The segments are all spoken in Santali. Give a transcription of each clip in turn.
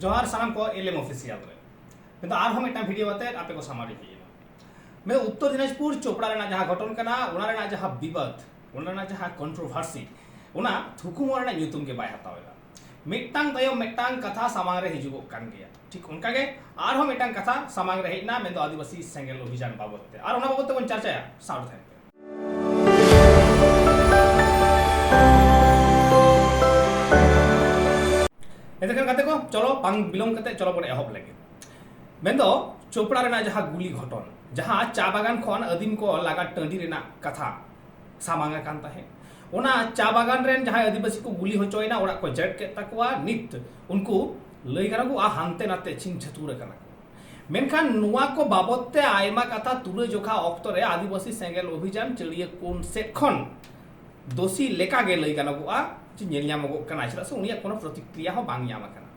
ᱡᱚᱦᱟᱨ ᱥᱟᱱᱟᱢ ᱠᱚ ᱮᱞᱮᱢ ᱚᱯᱷᱤᱥᱤᱭᱟᱞ ᱨᱮ ᱢᱮᱱ ᱫᱚ ᱟᱨᱦᱚᱸ ᱢᱤᱫᱴᱟᱝ ᱵᱷᱤᱰᱤᱭᱳ ᱟᱛᱮ ᱟᱯᱮ ᱠᱚ ᱥᱟᱢᱟᱝ ᱨᱮ ᱦᱮᱡ ᱮᱱᱟ ᱢᱮᱱ ᱩᱛᱛᱚᱨ ᱫᱤᱱᱟᱡᱽᱯᱩᱨ ᱪᱳᱯᱲᱟ ᱨᱮᱱᱟᱜ ᱡᱟᱦᱟᱸ ᱜᱷᱚᱴᱚᱱ ᱠᱟᱱᱟ ᱚᱱᱟ ᱨᱮᱱᱟᱜ ᱡᱟᱦᱟᱸ ᱵᱤᱵᱟᱫ ᱚᱱᱟ ᱨᱮᱱᱟᱜ ᱡᱟᱦᱟᱸ ᱠᱚᱱᱴᱨᱳᱵᱷᱟᱨᱥᱤ ᱚᱱᱟ ᱛᱷᱩᱠᱩᱢᱚ ᱨᱮᱱᱟᱜ ᱧᱩᱛᱩᱢ ᱜᱮ ᱵᱟᱭ ᱦᱟᱛᱟᱣ ᱮᱫᱟ ᱢᱤᱫᱴᱟᱝ ᱛᱟᱭᱚᱢ ᱢᱤᱫᱴᱟᱝ ᱠᱟᱛᱷᱟ ᱥᱟᱢᱟᱝ ᱨᱮ ᱦᱤᱡᱩᱜᱚᱜ ᱠᱟᱱ ᱜᱮᱭᱟ ᱴᱷᱤᱠ ᱚᱱᱠᱟ ᱜᱮ ᱟᱨᱦᱚᱸ ᱢᱤᱫᱴᱟᱝ ᱠᱟᱛᱷᱟ ᱥᱟᱢᱟᱝ ᱨᱮ ᱦᱮᱡ ᱮᱱᱟ ᱢᱮᱱ ᱫᱚ ᱟᱹᱫᱤᱵᱟᱹᱥᱤ ᱥᱮᱸᱜᱮᱞ ᱚᱵᱷᱤᱡᱟᱱ ᱵᱟᱵᱚᱫ ᱛᱮ ᱟᱨ ᱚᱱᱟ ᱵᱟᱵᱚᱫ ᱛᱮᱵᱚᱱ ᱪᱟᱨᱪᱟᱭᱟ ᱥᱟᱶ ᱛᱟᱦᱮᱱ ᱯᱮ ᱵᱟᱝ ᱵᱤᱞᱚᱢ ᱠᱟᱛᱮ ᱪᱚᱞᱚ ᱵᱚᱱ ᱮᱦᱚᱵ ᱞᱮᱜᱮ ᱢᱮᱱᱫᱚ ᱪᱳᱯᱲᱟ ᱨᱮᱱᱟᱜ ᱡᱟᱦᱟᱸ ᱜᱩᱞᱤ ᱜᱷᱚᱴᱚᱱ ᱡᱟᱦᱟᱸ ᱪᱟ ᱵᱟᱜᱟᱱ ᱠᱷᱚᱱ ᱟᱹᱫᱤᱢ ᱠᱚ ᱞᱟᱜᱟ ᱴᱟᱺᱰᱤ ᱨᱮᱱᱟᱜ ᱠᱟᱛᱷᱟ ᱥᱟᱢᱟᱝ ᱟᱠᱟᱱ ᱛᱟᱦᱮᱸᱫ ᱚᱱᱟ ᱪᱟ ᱵᱟᱜᱟᱱ ᱨᱮᱱ ᱡᱟᱦᱟᱸᱭ ᱟᱹᱫᱤᱵᱟᱹᱥᱤ ᱠᱚ ᱜᱩᱞᱤ ᱦᱚᱪᱚᱭᱮᱱᱟ ᱚᱲᱟᱜ ᱠᱚ ᱡᱮᱴ ᱠᱮᱫ ᱛᱟᱠᱚᱣᱟ ᱱᱤᱛ ᱩᱱᱠᱩ ᱞᱟᱹᱭ ᱜᱟᱱᱚᱜᱼᱟ ᱦᱟᱱᱛᱮ ᱱᱟᱛᱮ ᱪᱷᱤᱝ ᱪᱷᱟᱹᱛᱩᱨ ᱟᱠᱟᱱᱟ ᱢᱮᱱᱠᱷᱟᱱ ᱱᱚᱣᱟ ᱠᱚ ᱵᱟᱵᱚᱛ ᱛᱮ ᱟᱭᱢᱟ ᱠᱟᱛᱷᱟ ᱛᱩᱞᱟᱹ ᱡᱚᱠᱷᱟ ᱚᱠᱛᱚ ᱨᱮ ᱟᱹᱫᱤᱵᱟᱹᱥᱤ ᱥᱮᱸᱜᱮᱞ ᱚᱵᱷᱤᱡᱟᱱ ᱪᱟᱹᱲᱤᱭᱟᱹ ᱠᱩᱱ ᱥᱮᱫ ᱠᱷᱚᱱ ᱫᱳᱥᱤ ᱞᱮᱠᱟ ᱜᱮ ᱞᱟᱹᱭ ᱜᱟᱱᱚᱜᱚᱜᱼᱟ ᱡᱮ ᱧᱮᱞ ᱧᱟᱢᱚᱜᱚᱜ ᱠᱟᱱᱟ ᱪᱮᱫᱟᱜ ᱥᱮ ᱩᱱᱤᱭᱟᱜ ᱠᱳᱱᱳ ᱯᱨᱚᱛᱤᱠᱨᱤᱭᱟ ᱦᱚᱸ ᱵᱟᱝ ᱧᱟᱢ ᱟᱠᱟᱱᱟ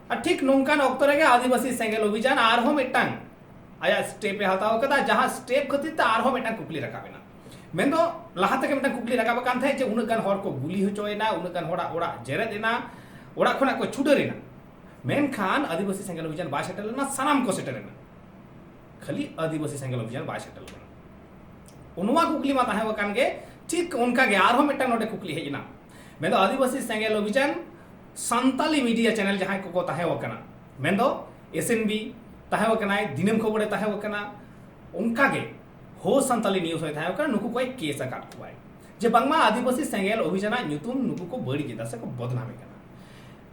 ᱟᱨ ᱴᱷᱤᱠ ᱱᱚᱝᱠᱟᱱ ᱚᱠᱛᱚ ᱨᱮᱜᱮ ᱟᱹᱫᱤᱵᱟᱹᱥᱤ ᱥᱮᱸᱜᱮᱞ ᱚᱵᱷᱤᱡᱟᱱ ᱟᱨᱦᱚᱸ ᱢᱤᱫᱴᱟᱝ ᱟᱭᱟᱜ ᱥᱴᱮᱯ ᱮ ᱦᱟᱛᱟᱣ ᱠᱟᱫᱟ ᱡᱟᱦᱟᱸ ᱥᱴᱮᱯ ᱠᱷᱟᱹᱛᱤᱨ ᱛᱮ ᱟᱨᱦᱚᱸ ᱢᱤᱫᱴᱟᱝ ᱠᱩᱠᱞᱤ ᱨᱟᱠᱟᱵ ᱮᱱᱟ ᱢᱮᱱᱫᱚ ᱞᱟᱦᱟ ᱛᱮᱜᱮ ᱢᱤᱫᱴᱟᱝ ᱠᱩᱠᱞᱤ ᱨᱟᱠᱟᱵ ᱟᱠᱟᱱ ᱛᱟᱦᱮᱸᱫ ᱡᱮ ᱩᱱᱟᱹᱜ ᱜᱟᱱ ᱦᱚᱲ ᱠᱚ ᱜᱩᱞᱤ ᱦᱚᱪᱚᱭᱮᱱᱟ ᱩᱱᱟᱹᱜ ᱜᱟᱱ ᱦᱚᱲᱟᱜ ᱚᱲᱟᱜ ᱡᱮᱨᱮᱫ ᱮᱱᱟ ᱚᱲᱟᱜ ᱠᱷᱚᱱᱟᱜ ᱠᱚ ᱪᱷᱩᱰᱟᱹᱨ ᱮᱱᱟ ᱢᱮᱱᱠᱷᱟᱱ ᱟᱹᱫᱤᱵᱟᱹᱥᱤ ᱥᱮᱸᱜᱮᱞ ᱚᱵᱷᱤᱡᱟᱱ ᱵᱟᱭ ᱥᱮᱴᱮᱨ ᱞᱮᱱᱟ ᱥᱟᱱᱟᱢ ᱠᱚ ᱥᱮᱴᱮᱨ ᱮᱱᱟ ᱠᱷᱟᱹᱞᱤ ᱟᱹᱫᱤᱵᱟᱹᱥᱤ ᱥᱮᱸᱜᱮᱞ ᱚᱵᱷᱤᱡᱟᱱ ᱵᱟᱭ ᱥᱮᱴᱮᱨ ᱞᱮᱱᱟ ᱚᱱᱟ ᱠᱩᱠᱞᱤ ᱢᱟ ᱛᱟᱦᱮᱸ ᱟᱠᱟᱱ ᱜᱮ ᱴᱷᱤᱠ ᱚᱱᱠᱟ ᱜᱮ ᱟᱨᱦᱚᱸ ᱢᱤᱫᱴᱟᱝ ᱱᱚᱰᱮ ᱠᱩᱠᱞᱤ ᱦᱮᱡ ᱮᱱᱟ ᱢᱮᱱ ᱫᱚ ᱟᱹᱫᱤᱵᱟᱹᱥᱤ ᱥᱮᱸᱜᱮᱞ ᱚᱵᱷᱤᱡᱟᱱ ᱥᱟᱱᱛᱟᱞᱤ ᱢᱤᱰᱤᱭᱟ ᱪᱮᱱᱮᱞ ᱡᱟᱦᱟᱸᱭ ᱠᱚᱠᱚ ᱛᱟᱦᱮᱸ ᱟᱠᱟᱱᱟ ᱢᱮᱱ ᱫᱚ ᱮᱥ ᱮᱱ ᱵᱤ ᱛᱟᱦᱮᱸ ᱟᱠᱟᱱᱟᱭ ᱫᱤᱱᱟᱹᱢ ᱠᱷᱚᱵᱚᱨᱮ ᱛᱟᱦᱮᱸ ᱟᱠᱟᱱᱟ ᱚᱱᱠᱟ ᱜᱮ ᱦᱳ ᱥᱟᱱᱛᱟᱞᱤ ᱱᱤᱭᱩᱡᱽ ᱦᱚᱸᱭ ᱛᱟᱦᱮᱸ ᱟᱠᱟᱱᱟ ᱱᱩᱠᱩ ᱠᱚᱭ ᱠᱮᱥ ᱟᱠᱟᱫ ᱠᱚᱣᱟᱭ ᱡᱮ ᱵᱟᱝᱢᱟ ᱟᱹᱫᱤᱵᱟᱹᱥᱤ ᱥᱮᱸᱜᱮᱞ ᱚᱵᱷᱤᱡᱟᱱᱟᱜ ᱧᱩᱛᱩᱢ ᱱᱩᱠᱩ ᱠᱚ ᱵᱟᱹᱲᱤᱡ ᱮᱫᱟ ᱥᱮ ᱠᱚ ᱵᱚᱫᱱᱟᱢᱮ ᱠᱟᱱᱟ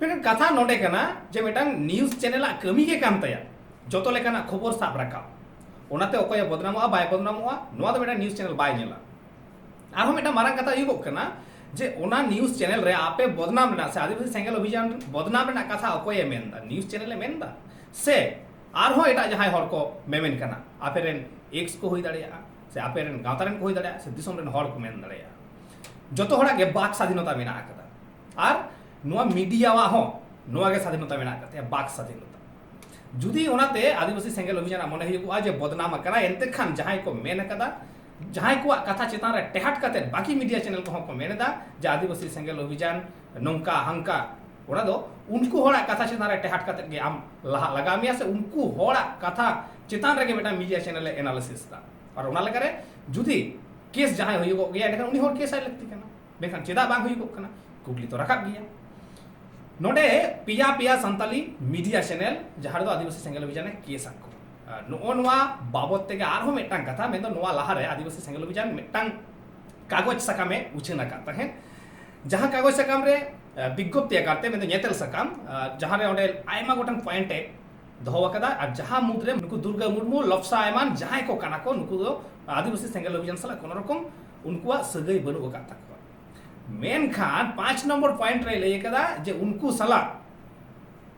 ᱢᱮᱱᱠᱷᱟᱱ ᱠᱟᱛᱷᱟ ᱱᱚᱰᱮ ᱠᱟᱱᱟ ᱡᱮ ᱢᱤᱫᱴᱟᱝ ᱱᱤᱭᱩᱡ ᱪᱮᱱᱮᱞ ᱟᱜ ᱠᱟᱹᱢᱤ ᱜᱮ ᱠᱟᱱ ᱛᱟᱭᱟ ᱡᱚᱛᱚ ᱞᱮᱠᱟᱱᱟᱜ ᱠᱷᱚᱵᱚᱨ ᱥᱟᱵ ᱨᱟᱠᱟᱵ ᱚᱱᱟᱛᱮ ᱚᱠᱚᱭ ᱵᱚᱫᱱᱟᱢᱚᱜᱼᱟ ᱵᱟᱭ ᱵᱚᱫᱱᱟᱢᱚᱜᱼᱟ ᱱᱚᱣᱟ ᱫᱚ ᱢᱤᱫᱴᱟᱝ ᱱᱤᱭᱩᱡ ᱪᱮᱱᱮᱞ ᱵᱟᱭ ᱧᱮᱞᱟ ᱟᱨᱦᱚᱸ ᱢᱤᱫᱴᱟᱝ ᱢᱟᱨᱟᱝ ᱠᱟᱛᱷᱟ ᱦᱩᱭᱩᱜᱚᱜ ᱠᱟᱱᱟ ᱡᱮ ᱚᱱᱟ ᱱᱤᱭᱩᱡ ᱪᱮᱱᱮᱞ ᱨᱮ ᱟᱯᱮ ᱵᱚᱫᱱᱟᱢ ᱨᱮᱱᱟᱜ ᱥᱮ ᱟᱹᱫᱤᱵᱟᱹᱥᱤ ᱥᱮᱸᱜᱮᱞ ᱚᱵᱷᱤᱡᱟᱱ ᱵᱚᱫᱱᱟᱢ ᱨᱮᱱᱟᱜ ᱠᱟᱛᱷᱟ ᱚᱠᱚᱭᱮ ᱢᱮᱱᱫᱟ ᱱᱤᱭᱩᱡ ᱪᱮᱱᱮᱞᱮ ᱢᱮᱱᱫᱟ ᱥᱮ ᱟᱨᱦᱚᱸ ᱮᱴᱟᱜ ᱡᱟᱦᱟᱸᱭ ᱦᱚᱲ ᱠᱚ ᱢᱮᱢᱮᱱ ᱠᱟᱱᱟ ᱟᱯᱮ ᱨᱮᱱ ᱮᱠᱥ ᱠᱚ ᱦᱩᱭ ᱫᱟᱲᱮᱭᱟᱜᱼᱟ ᱥᱮ ᱟᱯᱮ ᱨᱮᱱ ᱜᱟᱶᱛᱟ ᱨᱮᱱ ᱠᱚ ᱦᱩᱭ ᱫᱟᱲᱮᱭᱟᱜᱼᱟ ᱥᱮ ᱫᱤᱥᱚᱢ ᱨᱮᱱ ᱦᱚᱲ ᱠᱚ ᱢᱮᱱ ᱫᱟᱲᱮᱭᱟᱜᱼᱟ ᱡᱚᱛᱚ ᱦᱚᱲᱟᱜ ᱜᱮ ᱵᱟᱠ ᱥᱟᱫᱷᱤᱱᱚᱛᱟ ᱢᱮᱱᱟᱜ ᱟᱠᱟᱫᱟ ᱟᱨ ᱱᱚᱣᱟ ᱢᱤᱰᱤᱭᱟᱣᱟᱜ ᱦᱚᱸ ᱱᱚᱣᱟ ᱜᱮ ᱥᱟᱫᱷᱤᱱᱚᱛᱟ ᱢᱮᱱᱟᱜ ᱟᱠᱟᱫ ᱛᱟᱭᱟ ᱵᱟᱠ ᱥᱟᱫᱷᱤᱱᱚᱛᱟ ᱡᱩᱫᱤ ᱚᱱᱟᱛᱮ ᱟᱹᱫᱤᱵᱟᱹᱥᱤ ᱥᱮᱸᱜᱮᱞ ᱚᱵᱷᱤᱡᱟᱱᱟᱜ ᱢᱚᱱᱮ ᱦᱩᱭᱩᱜᱼᱟ ᱡᱮ ᱵᱚᱫᱱᱟᱢ ᱟᱠᱟᱱᱟ ᱮᱱᱛᱮ ᱠᱷᱟᱱ ᱡᱟᱦᱟᱸᱭ ᱠᱚ ᱢᱮᱱ ᱟᱠᱟᱫᱟ ᱡᱟᱦᱟᱸᱭ ᱠᱚᱣᱟᱜ ᱠᱟᱛᱷᱟ ᱪᱮᱛᱟᱱ ᱨᱮ ᱴᱮᱦᱟᱴ ᱠᱟᱛᱮ ᱵᱟᱹᱠᱤ ᱢᱤᱰᱤᱭᱟ ᱪᱮᱱᱮᱞ ᱠᱚᱦᱚᱸ ᱠᱚ ᱢᱮᱱ ᱮᱫᱟ ᱡᱮ ᱟᱹᱫᱤᱵᱟᱹᱥᱤ ᱥᱮᱸᱜᱮᱞ ᱚᱵᱷᱤᱡᱟᱱ ᱱᱚᱝᱠᱟ ᱦᱟᱝᱠᱟ ᱚᱱᱟ ᱫᱚ ᱩᱱᱠᱩ ᱦᱚᱲᱟᱜ ᱠᱟᱛᱷᱟ ᱪᱮᱛᱟᱱ ᱨᱮ ᱴᱮᱦᱟᱴ ᱠᱟᱛᱮ ᱜᱮ ᱟᱢ ᱞᱟᱦᱟ ᱞᱟᱜᱟᱣ ᱢᱮᱭᱟ ᱥᱮ ᱩᱱᱠᱩ ᱦᱚᱲᱟᱜ ᱠᱟᱛᱷᱟ ᱪᱮᱛᱟᱱ ᱨᱮᱜᱮ ᱢᱤᱫᱴᱟᱝ ᱢᱤᱰᱤᱭᱟ ᱪᱮᱱᱮᱞ ᱮ ᱮᱱᱟᱞᱤᱥᱤᱥ ᱮᱫᱟ ᱟᱨ ᱚᱱᱟ ᱞᱮᱠᱟᱨᱮ ᱡᱩᱫᱤ ᱠᱮᱥ ᱡᱟᱦᱟᱸᱭ ᱦᱩᱭᱩᱜᱚᱜ ᱜᱮᱭᱟ ᱮᱱᱠᱷᱟᱱ ᱩᱱᱤ ᱦᱚᱲ ᱠᱮᱥ ᱟᱭ ᱞᱟᱹᱠᱛᱤ ᱠᱟᱱᱟ ᱢᱮᱱᱠᱷᱟᱱ ᱪᱮᱫᱟᱜ ᱵᱟᱝ ᱦᱩᱭᱩᱜᱚᱜ ᱠᱟᱱᱟ ᱠᱩᱠᱞᱤ ᱛᱚ ᱨᱟᱠᱟᱵ ᱜᱮᱭᱟ ᱱᱚᱰᱮ ᱯᱮᱭᱟ ᱯᱮᱭᱟ ᱥᱟᱱᱛᱟᱞᱤ ᱢᱤᱰᱤᱭᱟ ᱪᱮᱱᱮᱞ ᱡᱟᱦᱟᱸ ᱨᱮᱫᱚ ᱟᱹᱫᱤᱵᱟᱹᱥᱤ ᱥᱮᱸᱜᱮᱞ ᱚᱵᱷᱤᱡᱟᱱᱮ ᱠᱮᱥ ᱟᱠᱚ ᱱᱚᱜᱼᱚ ᱱᱚᱣᱟ ᱵᱟᱵᱚᱫ ᱛᱮᱜᱮ ᱟᱨᱦᱚᱸ ᱢᱤᱫᱴᱟᱝ ᱠᱟᱛᱷᱟ ᱢᱮᱱᱫᱚ ᱱᱚᱣᱟ ᱞᱟᱦᱟᱨᱮ ᱟᱹᱫᱤᱵᱟᱹᱥᱤ ᱥᱮᱸᱜᱮᱞ ᱚᱵᱷᱤᱡᱟᱱ ᱢᱤᱫᱴᱟᱝ ᱠᱟᱜᱚᱡᱽ ᱥᱟᱠᱟᱢᱮ ᱩᱪᱷᱟᱹᱱ ᱟᱠᱟᱫ ᱛᱟᱦᱮᱸᱫ ᱡᱟᱦᱟᱸ ᱠᱟᱜᱚᱡᱽ ᱥᱟᱠᱟᱢ ᱨᱮ ᱵᱤᱜᱽᱜᱚᱯᱛᱤ ᱟᱠᱟᱨᱛᱮ ᱢᱮᱱᱫᱚ ᱧᱮᱛᱮᱞ ᱥᱟᱠᱟᱢ ᱡᱟᱦᱟᱸ ᱨᱮ ᱚᱸᱰᱮ ᱟᱭᱢᱟ ᱜᱚᱴᱟᱝ ᱯᱚᱭᱮᱱᱴ ᱮ ᱫᱚᱦᱚ ᱟᱠᱟᱫᱟ ᱟᱨ ᱡᱟᱦᱟᱸ ᱢᱩᱫᱽᱨᱮ ᱱᱩᱠᱩ ᱫᱩᱨᱜᱟ ᱢᱩᱨᱢᱩ ᱞᱚᱯᱥᱟ ᱮᱢᱟᱱ ᱡᱟᱦᱟᱸᱭ ᱠᱚ ᱠᱟᱱᱟ ᱠᱚ ᱱᱩᱠᱩ ᱫᱚ ᱟᱹᱫᱤᱵᱟᱹᱥᱤ ᱥᱮᱸᱜᱮᱞ ᱚᱵᱷᱤᱡᱟᱱ ᱥᱟᱞᱟᱜ ᱠᱳᱱᱳ ᱨᱚᱠᱚᱢ ᱩᱱᱠᱩᱣᱟᱜ ᱥᱟᱹᱜᱟᱹᱭ ᱵᱟᱹᱱᱩᱜ ᱟᱠᱟᱫ ᱛᱟᱠᱚᱣᱟ ᱢᱮᱱᱠᱷᱟᱱ ᱯᱟᱸᱪ ᱱᱚᱢᱵᱚᱨ ᱯᱚᱭᱮᱱᱴ ᱨᱮ ᱞᱟᱹᱭ ᱟᱠᱟᱫᱟ ᱡᱮ ᱩᱱᱠᱩ ᱥᱟᱞᱟᱜ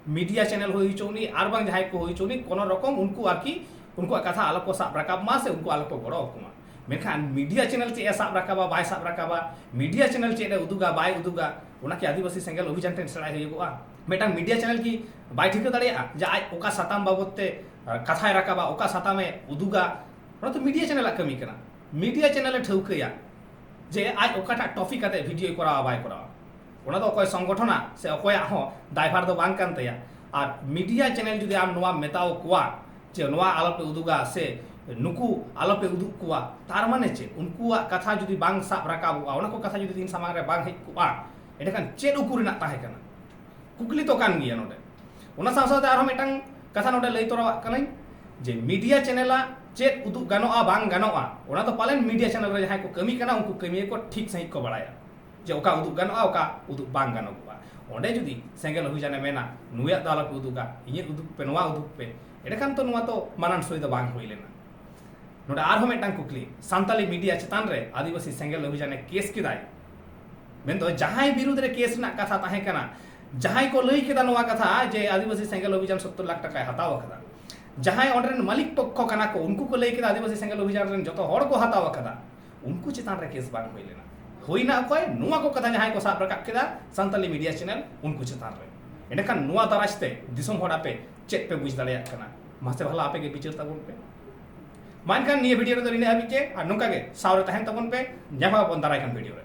ᱢᱤᱰᱤᱭᱟ ᱪᱮᱱᱮᱞ ᱦᱩᱭ ᱦᱚᱪᱚ ᱩᱱᱤ ᱟᱨ ᱵᱟᱝ ᱡᱟᱦᱟᱸᱭ ᱠᱚ ᱦᱩᱭ ᱦᱚᱪᱚ ᱩᱱᱤ ᱠᱳᱱᱳ ᱨᱚᱠᱚᱢ ᱩᱱᱠᱩ ᱟᱨᱠᱤ ᱩᱱᱠᱩᱣᱟᱜ ᱠᱟᱛᱷᱟ ᱟᱞᱚ ᱠᱚ ᱥᱟᱵ ᱨᱟᱠᱟᱵ ᱢᱟ ᱥᱮ ᱩᱱᱠᱩ ᱟᱞᱚ ᱠᱚ ᱜᱚᱲᱚ ᱟᱠᱚ ᱢᱟ ᱢᱮᱱᱠᱷᱟᱱ ᱢᱤᱰᱤᱭᱟ ᱪᱮᱱᱮᱞ ᱪᱮᱫ ᱮ ᱥᱟᱵ ᱨᱟᱠᱟᱵᱟ ᱵᱟᱭ ᱥᱟᱵ ᱨᱟᱠᱟᱵᱟ ᱢᱤᱰᱤᱭᱟ ᱪᱮᱱᱮᱞ ᱪᱮᱫ ᱮ ᱩᱫᱩᱜᱟ ᱵᱟᱭ ᱩᱫᱩᱜᱟ ᱚᱱᱟ ᱠᱤ ᱟᱹᱫᱤᱵᱟᱹᱥᱤ ᱥᱮᱸᱜᱮᱞ ᱚᱵᱷᱤᱡᱟᱱ ᱴᱷᱮᱱ ᱥᱮᱬᱟᱭ ᱦᱩᱭᱩᱜᱚᱜᱼᱟ ᱢᱤᱫᱴᱟᱝ ᱢᱤᱰᱤᱭᱟ ᱪᱮᱱᱮᱞ ᱠᱤ ᱵᱟᱭ ᱴᱷᱤᱠᱟᱹ ᱫᱟᱲᱮᱭᱟᱜᱼᱟ ᱡᱮ ᱟᱡ ᱚᱠᱟ ᱥᱟᱛᱟᱢ ᱵᱟᱵᱚᱫ ᱛᱮ ᱠᱟᱛᱷᱟᱭ ᱨᱟᱠᱟᱵᱟ ᱚᱠᱟ ᱥᱟᱛᱟᱢᱮ ᱩᱫᱩᱜᱟ ᱚᱱᱟ ᱫᱚ ᱢᱤᱰᱤᱭᱟ ᱪᱮᱱᱮᱞᱟᱜ ᱠᱟᱹᱢᱤ ᱠᱟᱱᱟ ᱢᱤᱰᱤᱭᱟ ᱪᱮᱱᱮᱞ ᱮ ᱴᱷᱟᱹᱣᱠᱟᱹᱭᱟ ᱡᱮ ᱟᱡ ᱚᱠᱟᱴᱟᱜ ᱴᱚᱯᱤᱠ ᱟᱛᱮ ᱵᱷᱤᱰᱤᱭᱳᱭ ᱠᱚᱨᱟᱣᱟ ᱵᱟᱭ ᱠᱚᱨᱟᱣᱟ ᱚᱱᱟ ᱫᱚ ᱚᱠᱚᱭ ᱥᱚᱝᱜᱚᱴᱷᱚᱱᱟ ᱥᱮ ᱚᱠᱚᱭᱟᱜ ᱦᱚᱸ ᱫᱟᱭᱵᱷᱟᱨ ᱫᱚ ᱵᱟᱝ ᱠᱟᱱ ᱛᱟᱭᱟ ᱟᱨ ᱢᱤᱰᱤᱭᱟ ᱪᱮᱱᱮᱞ ᱡᱩᱫᱤ ᱟᱢ ᱱᱚᱣᱟ ᱢᱮᱛᱟᱣ ᱠᱚᱣᱟ ᱡᱮ ᱱᱚᱣᱟ ᱟᱞᱚᱯᱮ ᱩᱫᱩᱜᱟ ᱥᱮ ᱱᱩᱠᱩ ᱟᱞᱚᱯᱮ ᱩᱫᱩᱜ ᱠᱚᱣᱟ ᱛᱟᱨ ᱢᱟᱱᱮ ᱪᱮᱫ ᱩᱱᱠᱩᱣᱟᱜ ᱠᱟᱛᱷᱟ ᱡᱩᱫᱤ ᱵᱟᱝ ᱥᱟᱵ ᱨᱟᱠᱟᱵᱚᱜᱼᱟ ᱚᱱᱟ ᱠᱚ ᱠᱟᱛᱷᱟ ᱡᱩᱫᱤ ᱤᱧ ᱥᱟᱢᱟᱝ ᱨᱮ ᱵᱟᱝ ᱦᱮᱡ ᱠᱚᱜᱼᱟ ᱮᱸᱰᱮᱠᱷᱟᱱ ᱪᱮᱫ ᱩᱠᱩ ᱨᱮᱱᱟᱜ ᱛᱟᱦᱮᱸ ᱠᱟᱱᱟ ᱠᱩᱠᱞᱤ ᱛᱚ ᱠᱟᱱ ᱜᱮᱭᱟ ᱱᱚᱰᱮ ᱚᱱᱟ ᱥᱟᱶ ᱥᱟᱶᱛᱮ ᱟᱨᱦᱚᱸ ᱢᱤᱫᱴᱟᱝ ᱠᱟᱛᱷᱟ ᱱᱚᱰᱮ ᱞᱟᱹᱭ ᱛᱚᱨᱟᱣᱟᱜ ᱠᱟᱹᱱᱟᱹᱧ ᱡᱮ ᱢᱤᱰᱤᱭᱟ ᱪᱮᱱᱮᱞᱟᱜ ᱪᱮᱫ ᱩᱫᱩᱜ ᱜᱟᱱᱚᱜᱼᱟ ᱵᱟᱝ ᱜᱟᱱᱚᱜᱼᱟ ᱚᱱᱟ ᱫᱚ ᱯᱟᱞᱮᱱ ᱢᱤᱰᱤᱭᱟ ᱪᱮᱱᱮᱞ ᱨᱮ ᱡᱟᱦᱟᱸᱭ ᱠᱚ ᱠᱟᱹᱢᱤ ᱠᱟᱱᱟ ᱩᱱᱠᱩ ᱠᱟᱹᱢᱤᱭᱟᱹ ᱠᱚ ᱴᱷᱤᱠ ᱥᱟᱺᱦᱤᱡ ᱠᱚ ᱵᱟᱲᱟᱭᱟ ᱡᱮ ᱚᱠᱟ ᱩᱫᱩᱜ ᱜᱟᱱᱚᱜᱼᱟ ᱚᱠᱟ ᱩᱫᱩᱜ ᱵᱟᱝ ᱜᱟᱱᱚᱜᱼᱟ ᱚᱸᱰᱮ ᱡᱩᱫᱤ ᱥᱮᱸᱜᱮᱞ ᱚᱵᱷᱤᱡᱟᱱᱮ ᱢᱮᱱᱟ ᱱᱩᱭᱟᱜ ᱫᱚ ᱟᱞᱚᱯᱮ ᱩᱫᱩᱜᱟ ᱤᱧᱟᱹᱜ ᱩᱫᱩᱜ ᱯᱮ ᱱᱚᱣᱟ ᱩᱫᱩᱜ ᱯᱮ ᱮᱸᱰᱮᱠᱷᱟᱱ ᱛᱚ ᱱᱚᱣᱟ ᱛᱚ ᱢᱟᱱᱟᱱ ᱥᱳᱭ ᱫᱚ ᱵᱟᱝ ᱦᱩᱭ ᱞᱮᱱᱟ ᱱᱚᱰᱮ ᱟᱨᱦᱚᱸ ᱢᱤᱫᱴᱟᱝ ᱠᱩᱠᱞᱤ ᱥᱟᱱᱛᱟᱞᱤ ᱢᱤᱰᱤᱭᱟ ᱪᱮᱛᱟᱱ ᱨᱮ ᱟᱹᱫᱤᱵᱟᱹᱥᱤ ᱥᱮᱸᱜᱮᱞ ᱚᱵᱷᱤᱡᱟᱱᱮ ᱠᱮᱥ ᱠᱮᱫᱟᱭ ᱢᱮᱱᱫᱚ ᱡᱟᱦᱟᱸᱭ ᱵᱤᱨᱩᱫᱷ ᱨᱮ ᱠᱮᱥ ᱨᱮᱱᱟᱜ ᱠᱟᱛᱷᱟ ᱛᱟᱦᱮᱸ ᱠᱟᱱᱟ ᱡᱟᱦᱟᱸᱭ ᱠᱚ ᱞᱟᱹᱭ ᱠᱮᱫᱟ ᱱᱚᱣᱟ ᱠᱟᱛᱷᱟ ᱡᱮ ᱟᱹᱫᱤᱵᱟᱹᱥᱤ ᱥᱮᱸᱜᱮᱞ ᱚᱵᱷᱤᱡᱟᱱ ᱥᱚᱛᱛᱚᱨ ᱞᱟᱠᱷ ᱴᱟᱠᱟᱭ ᱦᱟᱛᱟᱣ ᱟᱠᱟᱫᱟ ᱡᱟᱦᱟᱸᱭ ᱚᱸᱰᱮ ᱨᱮᱱ ᱢᱟᱹᱞᱤᱠ ᱯᱚᱠᱠᱷᱚ ᱠᱟᱱᱟ ᱠᱚ ᱩᱱᱠᱩ ᱠᱚ ᱞᱟᱹᱭ ᱠᱮᱫᱟ ᱟᱹᱫᱤᱵᱟᱹᱥᱤ ᱥᱮᱸᱜᱮᱞ ᱚᱵᱷᱤᱡᱟᱱ ᱨᱮᱱ ᱡᱚᱛᱚ ᱦᱚᱲ ᱠᱚ ᱦᱟᱛᱟᱣ ᱟᱠᱟᱫᱟ ᱩᱱᱠᱩ ᱪᱮᱛᱟᱱ ᱨᱮ ᱠᱮᱥ ᱵᱟᱝ ᱦᱩᱭ ᱞᱮᱱᱟ ᱦᱩᱭᱱᱟ ᱚᱠᱚᱭ ᱱᱚᱣᱟ ᱠᱚ ᱠᱟᱛᱷᱟ ᱡᱟᱦᱟᱸᱭ ᱠᱚ ᱥᱟᱵ ᱨᱟᱠᱟᱵ ᱠᱮᱫᱟ ᱥᱟᱱᱛᱟᱞᱤ ᱢᱤᱰᱤᱭᱟ ᱪᱮᱱᱮᱞ ᱩᱱᱠᱩ ᱪᱮᱛᱟᱱ ᱨᱮ ᱮᱸᱰᱮᱠᱷᱟᱱ ᱱᱚᱣᱟ ᱫᱟᱨᱟᱡᱽ ᱛᱮ ᱫᱤᱥᱚᱢ ᱦᱚᱲ ᱟᱯᱮ ᱪᱮᱫ ᱯᱮ ᱵᱩᱡᱽ ᱫᱟᱲᱮᱭᱟᱜ ᱠᱟᱱᱟ ᱢᱟᱥᱮ ᱵᱷᱟᱞᱟ ᱟᱯᱮ ᱜᱮ ᱵᱤᱪᱟᱹᱨ ᱛᱟᱵᱚᱱ ᱯᱮ ᱢᱟ ᱮᱱᱠᱷᱟᱱ ᱱᱤᱭᱟᱹ ᱵᱷᱤᱰᱤᱭᱳ ᱨᱮᱫᱚ ᱱᱤᱱᱟᱹᱜ ᱦᱟᱹᱵᱤᱡ ᱜᱮ ᱟᱨ ᱱᱚᱝᱠᱟ ᱜᱮ ᱥᱟᱶᱨᱮ ᱛᱟᱦᱮᱱ ᱛᱟᱵᱚᱱ ᱯᱮ ᱧᱟᱯᱟᱢ ᱟᱵᱚᱱ ᱫᱟᱨᱟᱭ ᱠᱟᱱ ᱵᱷᱤᱰᱤᱭᱳ ᱨᱮ